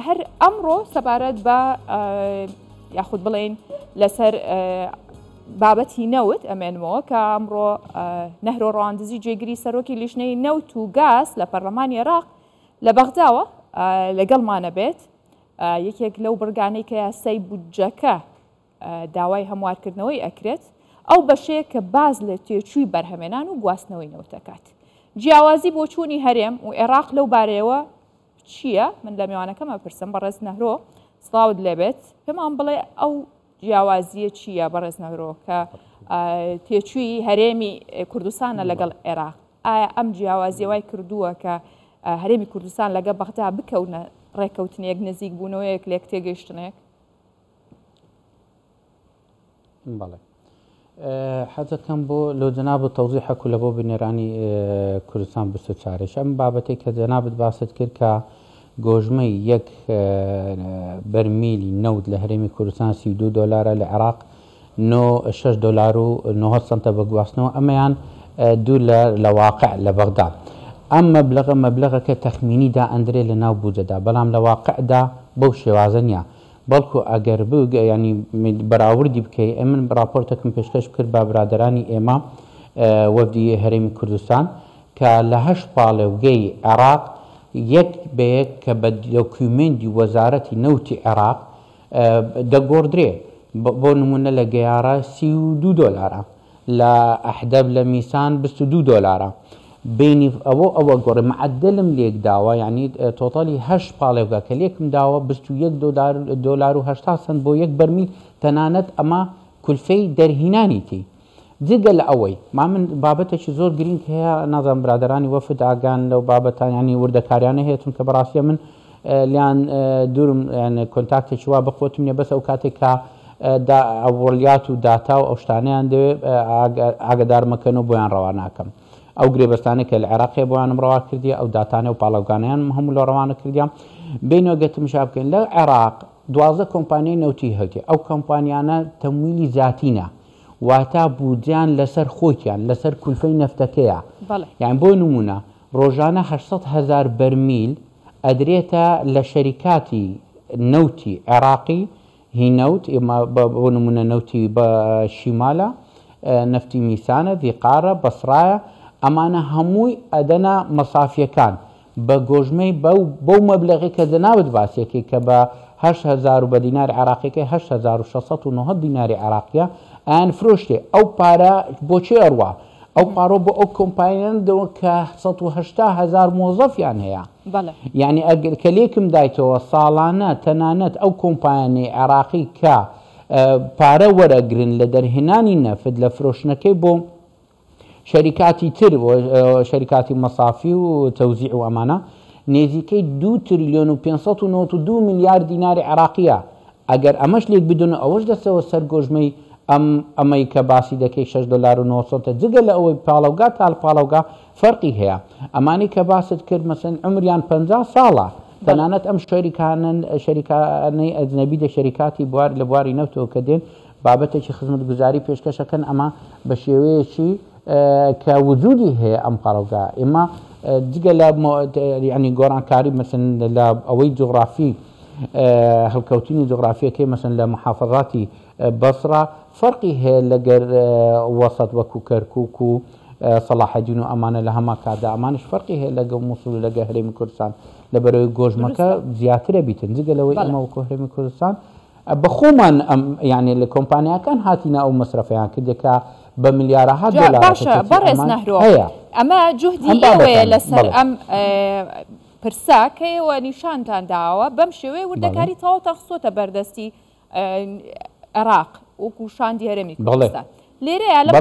هەر ئەمڕۆ سەبارەت بە یاخود بڵین لەسەر بابەتی نەوت ئەمێنمەوە کە ئەمڕۆ نەهرۆ ڕواندزی جێگری سەرۆکی لیژنەی نەوت و گاز لە پەرلەمانی عێراق لە بەغداوە لەگەڵمانە بێت یەکێک لەو بڕگانەی کە یاسای بودجەکە داوای هەموارکردنەوەی ئەکرێت ئەو بەشەیە کە باس لە تێچووی بەرهەمێنان و گواستنەوەی نەوت دەکات. جیاوازی بۆچوونی هەرێم و ئێراق لەو بارەیەوە چییە؟ من لە مێوانەکەم ئەپرسم، بەڕێز نەهرۆ سڵاوت لێبێت، پێمان بڵێ ئەو جیاوازییە چییە بەڕێز نەهرۆ کە تێچووی هەرێمی کوردستانە لەگەڵ ئێراق؟ ئایا ئەم جیاوازیە وای کردووە کە هەرێمی کوردستان لەگە بەغدا بکەونە ڕێککەوتنێک نزیک بوونەوەیەک لێک تێگەیشتنێک؟ بەڵێ حەزەکەم بۆ لۆ جەناب و تەوزیحەکو لە بۆ بنێرانی کوردستان بستە چارێش ئەم بابەتێک کە جەنابت باست کرد کە گۆژمەی یەک بەرمیلی نەوت لە هەرێمی کوردستان سی دو دۆلارە لە عێراق 6 دلار و 9 سنتە بە گواستنەوە ئەمەیان دوور لە لە واقع لە بەغدا ئەم مەبلغە مەبلغەکە تەخمینی دا ئەندرێ لە ناو بودجەدا بەڵام لە واقعدا بەو شێوازە نیە بەڵکو ئەگەر بگ یانی بەراوردی بکەی ئەی من راپۆرتەکم پێشکەش بکرد بە برادەرانی ئێمە وەفدی هەرێمی کوردستان کە لە هەشت پاڵێوگەی عێراق یەک بە یەک کە بە دۆکیومێندی وەزارەتی نەوتی عێراق دەگۆڕدرێ بۆ نموونە لە گەیارە سی و دوو دۆلارە لە ئەحدەب لە میسان بیست و دوو دۆلارە بینی ئەوە ئەوە گۆڕێ معدلم لێک داوە یعنی تۆتالی هەشت پاڵێوگا کە لێکم داوە بیست و یەک دۆلار دۆلار و هەشتا سنت بۆ یەک بەرمیل تەنانەت ئەمە کولفەی دەرهینانی تی جگە لە ئەوەی ما من بابەتێکی زۆر گرینگ هەیە نازانم برادەرانی وەفد ئاگان لەو بابەتانیانی وردەکاریانە هەیە چونکە بەڕاستیە من لێیان دورم یان کۆنتاکتێکی وا بە خۆتم نیە بەس ئەو کاتێک کە دا ئەوەڵیات و داتا و ئەو شتانەیان دەوێ ئاگدار مەکەن و بۆیان ڕەوا ناکەم ئەو گرێبەستانە کە لە عێراقی بۆیانم ڕەوا کردی ئەو داتانە و پاڵەوگانیان هەموو لە ڕەوانە کردیان بینەوە گەتم شا بکەین لە عێراق دوازە کۆمپانیای نەوتی هەوتی ئەو کۆمپانیانە تەمویلی زیاتینە واتا بودجیان لەسەر خۆکیان لەسەر کولفەی نەفتەکەیە یان بۆ نمونە ڕۆژانە هەشت سەد هەزار بەرمیل ئەدرێتە لە شەریکاتی نەوتی عێراقی، هی نەوت، بۆ نموونە نەوتی شیمالە، نەفتی میسانە، ڤیقارە، بەسڕایە، ئەمانە هەمووی ئەدەنە مەسافیەکان بە گۆژمەی بەو مەبلەغەی کە جەنابت باسیەکەی کە بە هەشت هەزار و بە دیناری عێراقیەکەی هەشت هەزار و شەش سەد و نۆزدە دیناری عێراقیە ئەیانفرۆشتێ ئەو پارە بۆ چێ ئەڕوا؟ ئەو پارە بۆ ئەو کۆمپانیانە دەوە کە سەد و هەشتا هەزار مۆزەفیان هەیە. بەڵێ. یانی ئەگەر کە لێکم دایتەوە ساڵانە تەنانەت ئەو کۆمپانیانەی عێراقی کە پارە وەرەگرن لە دەرهێنانی نەفت لە فرۆشتنەکەی بۆ شەریکاتی تر و شەریکاتی مەسافی و تەوزیع و ئەمانە نێزیکەی دوو تریلیۆن و پێنج سەد و نەوەد و دوو ملیار دیناری عێراقیە. ئەگەر ئەمەش لێک بدەن و ئەوەش دەچەوە سەر گۆژمەی ئەم ئەمەی کە باسی دەکەی شەش دۆلار و نۆ سەنتە جگە لە ئەوەی پاڵەوگا تا پاڵەوگا فەرقی هەیە ئەمانەی کە باست کرد مەسەلەن عومریان پەنجا ساڵە بەڵێ. تەنانەت ئەم شەریکانەن شەریکانەی ئەجنەبی دە شەریکاتی بوار لە بواری نەوتەوە کە دێن بابەتێکی خزمەتگوزاری پێشکەش ئەکەن ئەمە بە شێوەیەکی کە وجودی هەیە ئەم پاڵەوگا ئێمە جگە لە یەعنی گۆڕانکاری مەسەلەن لە ئەوەی جوغڕافی هەڵکەوتنی جوغرافیەکەی مەسەن لە محافەزاتی بەسڕە فەرقی هەیە لەگەر وەسەت وەکو کەرکک و سەڵاحەدین و ئەمانە لە هەما کاتدا ئەمانش فەرقی هەیە لەگە مووسڵ و لەگە هەرێمی کوردستان لە بەرەوەی گۆژمەکە زیاترە بیتن جگە لەوەی ئەمە وەکو هەرێمی کوردستان بە خۆمان ئەم یعنی لە کۆمپانیاکان هاتینا ئەو مەسرەفیان کردێکە بە ملیارەها دۆلار بەڕێز نەهرۆ ئەمە جوهدی ئێوەیە لەسەر ئەم پرسە کە ئێوە نیشانتان داوە بەم شێوەیە وردەکاری تەواوتان خستۆتە بەردەستی عێراق وەکو شاندی هەرێمی کوردستان لێرەیە لە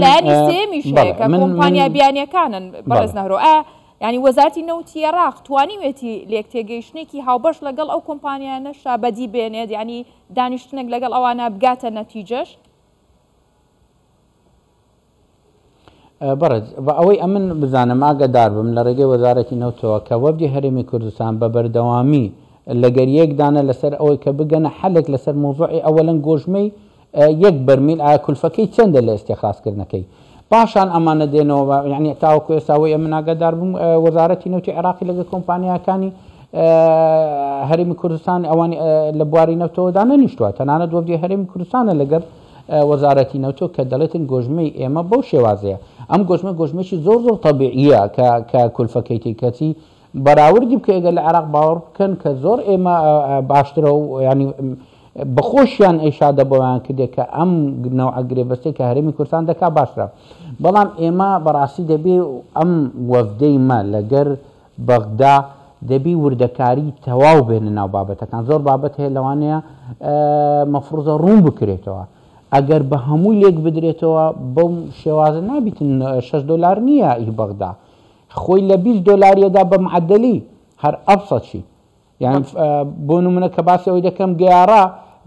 لایەنی سێمیش هەیە کە کۆمپانیا بیانیەکانن بەڕێز نەهرۆ ئایا ینی وەزارتی نەوتی عێراق توانیوێتی لێک تێگەیشتێکی هاوبەش لەگەڵ ئەو کۆمپانیا نەشا بەدی بێنێت ینی دانیشتنێک لەگەڵ ئەوانە بگاتە نەتیجەش بەڕێز بە ئەوەی ئەمن بزانم ئاگەدار بم لە ڕێگەی وەزارەتی نەوتەوە کە وەفدی هەرێمی کوردستان بە بەردەوامی لەگەر یەک دانە لەسەر ئەوەی کە بگەنە حەلێک لەسەر مەوزوعی ئەوەلەن گۆژمەی یەک بەرمیل ئایا کولفەکەی چەندە لە ئیستیخراس کردنەکەی پاشان ئەمانە دێنەوە بە یعنی تاوەکو ئێستا وەی ئەمن ئاگەدار بم وەزارەتی نەوتی عێراقی لەگەر کۆمپانیاکانی هەرێمی کوردستان ئەوانی لە بواری نەوتەوەدا نەنیشتووە تەنانەت وەفدی هەرێمی کوردستانە لەگەر وەزارەتی نەوتۆ کە دەڵێتن گۆژمەی ئێمە بەو شێوازەیە ئەم گۆژمە گۆژمەیەکی زۆر زۆر تەبیعییە کە کە کولفەکەی تێی کەچی بەراوردی بکەی گەر لە عێراق باوەڕ بکەن کە زۆر ئێمە باشترە و یانی بەخۆشیان ئێشادە بۆیان کردێک کە ئەم نەوعە گرێبەستێک کە هەرێمی کوردستان دەکا باشترە بەڵام ئێمە بەڕاستی دەبێ ئەم وەفدەی مە لەگەر بەغدا دەبی وردەکاری تەواو بێنە ناو بابەتەکان زۆر بابەت هەیە لەوانەیە مەفروزە ڕوون بکرێتەوە ئەگەر بە هەمووی لێک بدرێتەوە بەم شێوازە نابیتن 6 دلار نییە ئی بەغدا خۆی لە 20 دلاریەدا بە معدلی هەر ئەبسەچی یان بۆ نمونە کە باسی ئەوی دەکەم گەیارە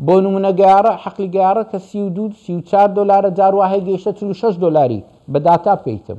بۆ نمونە گەیارە حەقلی گەیارە کە 32 34 دلارە جاروواهەیە گەیشتە 46 دلاری بە داتا پێیتم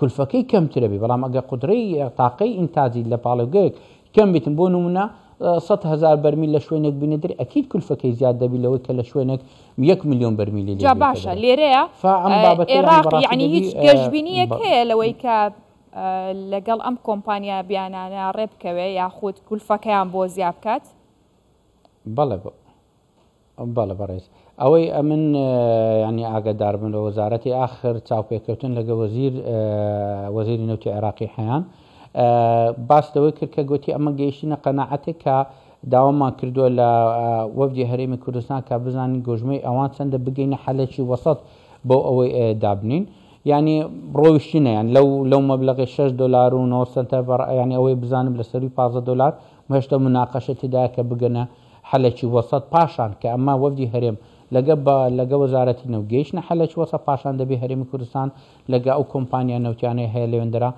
کلفەکەی کەمترە بێ بەڵام ئەگەر قودرەی تاقەی ئینتاجی لە پاڵێوگەیەک کەم بیتن بۆ نمونە سەد هەزار بەرمیل لە شوێنێک بینە دەری ئەکید کلفەکەی زیاد دەبی لەوەی کە لە شوێنێک یەک ملیۆن بەرمیلی جا باشە لێرەیە ئێراق یعنی هیچ گەشبینیەک هەیە لەوەی کە لەگەڵ ئەم کۆمپانیا بیانانە ڕێبکەوێ یاخود کلفەکەیان بۆ زیابکات بەڵێ بۆ بەڵێ بەڕێز ئەوەی ئەمن ینی ئاگدار بن لە وەزارەتی ئاخر چاوپێکەوتن لەگە وەزیر وەزیری نەوتی عێراقی حەیان باس لەوەی کرد کە گوتی ئەمە گەیشتینە قەنەعەتێک کە داوامان کردووە لە وەفدی هەرێمی کوردستان کە بزانین گۆژمەی ئەوان چەندە بگەینە حەلێکی وەسەت بۆ ئەوەی دابنین ینی ڕۆیشتینەیان لەو لەو مەبلغی 6 دلار و 9 سنتە بەڕ ینی ئەوەی بزانم لە سەروی 15 دلار مشتە مناقشە تیدایە کە بگەنە حەلەکی وەسەت پاشان کە ئەمە وەفدی هەرێم لەگە بە لەگە وەزارەتی نەوت گەیشتنە حەلەکی وەسەت پاشان دەبی هەرێمی کوردستان لەگە ئەو کۆمپانیا نەوتیانەی هەیە لەوێندەرا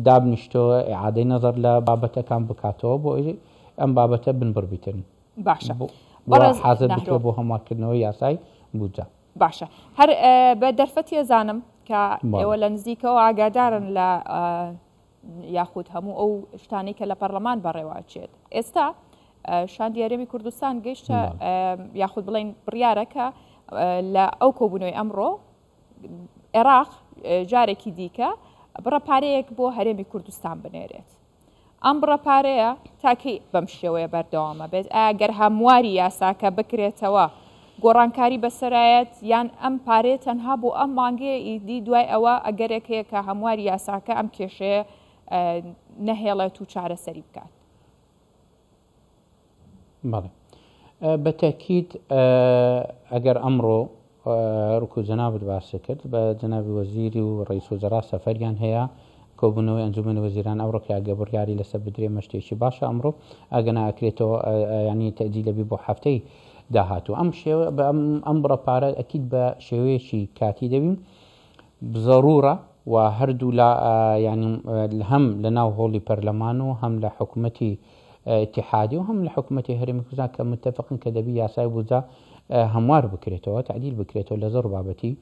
دابنیشتۆ ئیعادەی نەزەر لە بابەتەکان بکاتەوە بۆ ئەوی ئەم بابەتە بنبڕ بیتن باشە بۆ و بەڕێز حازر نەهرۆ بکرێ بۆ هەموار کردنەوەی یاسای بودجە. باشە هەر بە دەرفەتی ئەزانم کە بەڵێ. ئێوە لە نزیکەوە ئاگادارن لە یاخود هەموو ئەو شتانەی کە لە پەرلەمان بەڕێوە ئەچێت ئێستا شاندی هەرێمی کوردستان گەشتە یاخود بڵین بڕیارە کە لە ئەو کۆبوونەوەی ئەمڕۆ عێراق جارێکی دیکە بڕە پارەیەک بۆ هەرێمی کوردستان بنێرێت ئەم بڕە پارەیە تاکەی بەم شێوەیە بەردەوامە بێت ئاگەر هەمواری یاساکە بکرێتەوە گۆڕانکاری بەسەرایەت یان ئەم پارەیە تەنها بۆ ئەم مانگەیە ئیدی دوای ئەوە ئەگەرێک هەیە کە هەمواری یاساکە ئەم کێشەیە نەهێڵێت و چارەسەری بکات. بەڵێ بە تەکیت ئەگەر ئەمڕۆ ڕکو جەنابت باسی کرد بە جەناوی وەزیری و ڕیس و جەرا سەفەریان هەیە کۆبوونەوەی ئەنجومی وەزیران ئەو ڕکە ئەگە بڕیاری لەسەر بدرێ مەشتێکی باشە ئەمڕۆ ئەگەنا ئەکرێتەوە ینی تەجی لەبی بۆ هەفتەی داهاتوو ئەم شێوە بە ئەم بڕە پارە ئەکید بە شێوەیەکی کاتی دەبین زەرورە و هەردوو لا یانی هەم لە ناو هۆڵی پەرلەمان و هەم لە حکوومەتی اتحادی و هەم لە حکوومەتی هەرمی کوردستان کە متفقن کە دەبی یاسای بودجە هەموار بکرێتەوە تعدیل بکرێتەوە لە زۆر بابەتی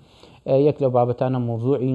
یەک لە بابەتانە موضوعی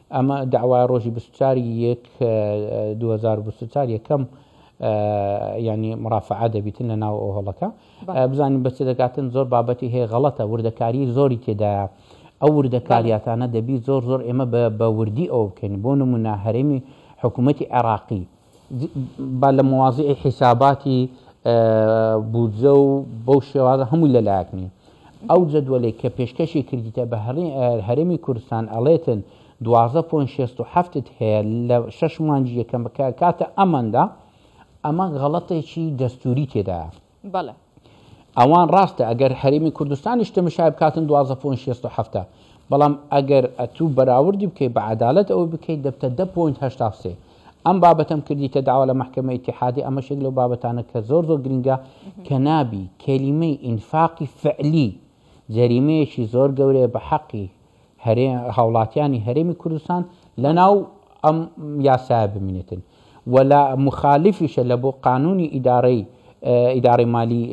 ئەمە دەعوایە ڕۆژی بیست و چوار ی یەک دوو هەزار و بیست و چوار یەکەم یانی مرافعە دەبیتن لە ناو ئەو هەڵەکە بزانین بەچ دەکاتن زۆر بابەتی هەیە غەڵەتە وردەکاری زۆری تێدایە ئەو وردەکاریاتانە دەبی زۆر زۆر ئێمە بە وردی ئەو بکەین بۆ نمونە هەرێمی حکوومەتی عێراقی با لە مواضیعی حیساباتی بودجە و بەو شێوازە هەمووی لە لایەک نی ئەو جەدوەلەی کە پێشکەشی کردیتە بە هەرێمی کوردستان ئەڵێتن دوازدە پۆینت شەست و حەفت ت هەیە لە شەش مانگی یەکەم کە کاتە ئەمەندە ئەمە غەڵەتێکی دەستووری تێدایە. بەڵێ. ئەوان ڕاستە ئەگەر هەرێمی کوردستانیش تەمشای بکاتن دوازدە پۆینت شێست و حەفتا بەڵام ئەگەر ئەتوو بەراوردی بکەی بە عەدالەت ئەوەی بکەی دەبتە دە پۆینت هەشتا و سێ ئەم بابەتەم کردیتە داوا لە مەحکەمەی ئیتیحادی ئەمەش یەک لەو بابەتانە کە زۆر زۆر گرینگە کە نابی کەلیمەی ئینفاقی فعلی جەریمەیەکی زۆر گەورەیە بە حەقی هاوڵاتیانی هەرێمی کوردستان لە ناو ئەم یاسایە بمینێتن و لە مخالفیشە لە بۆ قانونی ئیدارەی ئیدارەی مالی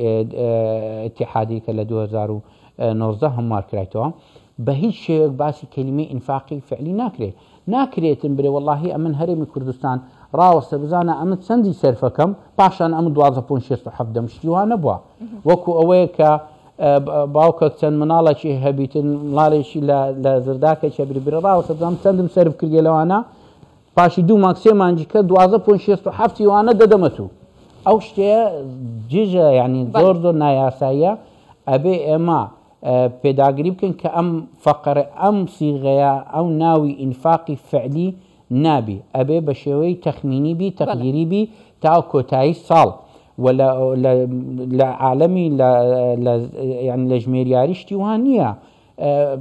اتحادی کە لە 2019 هەموار کرایتەوە بە هیچ شێوەک باسی کەلیمەی ئینفاقی فعلی ناکرێت ناکرێتم برێ وەڵاهی ئەمن هەرێمی کوردستان ڕاوەستە بزانە ئەمن چەندی سەرفەکەم پاشان ئەمن دوازدە پۆن شێست و حەڤدە م شتی وا نەبوە وەکو ئەوەیە کە باوکەک چەند مناڵەکی هەبیتن مڵالێکی لە زرداکەکە بری برە ڕاوەستە بزانم چەندم سەرف کردیە لەوانە پاشی دوو مانگ سێ مانگی کە دوازدە پۆن شێست و حەفتی وانە دەدەمە تو ئەو شتەیە جژە یعنی زۆر زۆر نایاساییە ئەبێ ئێمە پێداگری بکەن کە ئەم فەقەرە ئەم سیغەیە ئەو ناوی ئینفاقی فعلی نابی ئەبێ بە شێوەی تەخمینی بی بەڵێ تەقدیری بی تا کۆتایی ساڵ و لە لە لە عالەمی لە لە یانی لە ژمێریاری شتی وا نییە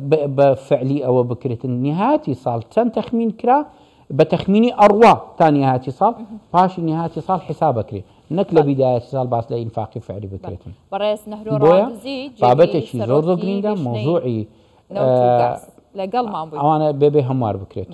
ب بە فعلی ئەوە بکرێتن نیهاتی ساڵ چەند تەخمین کرا بە تەخمینی ئەڕوا تا نیهاتی ساڵ پاشی نیهاتی ساڵ حیساب ئەکرێ نەک لە بیدایەتی ساڵ باس لە ئینفاقی فعلی بکرێتن. بۆیە بابەتێکی زۆر زۆر گرینگە مەوزوعی ئەوانە بێ بێ هەموار بکرێتەوە.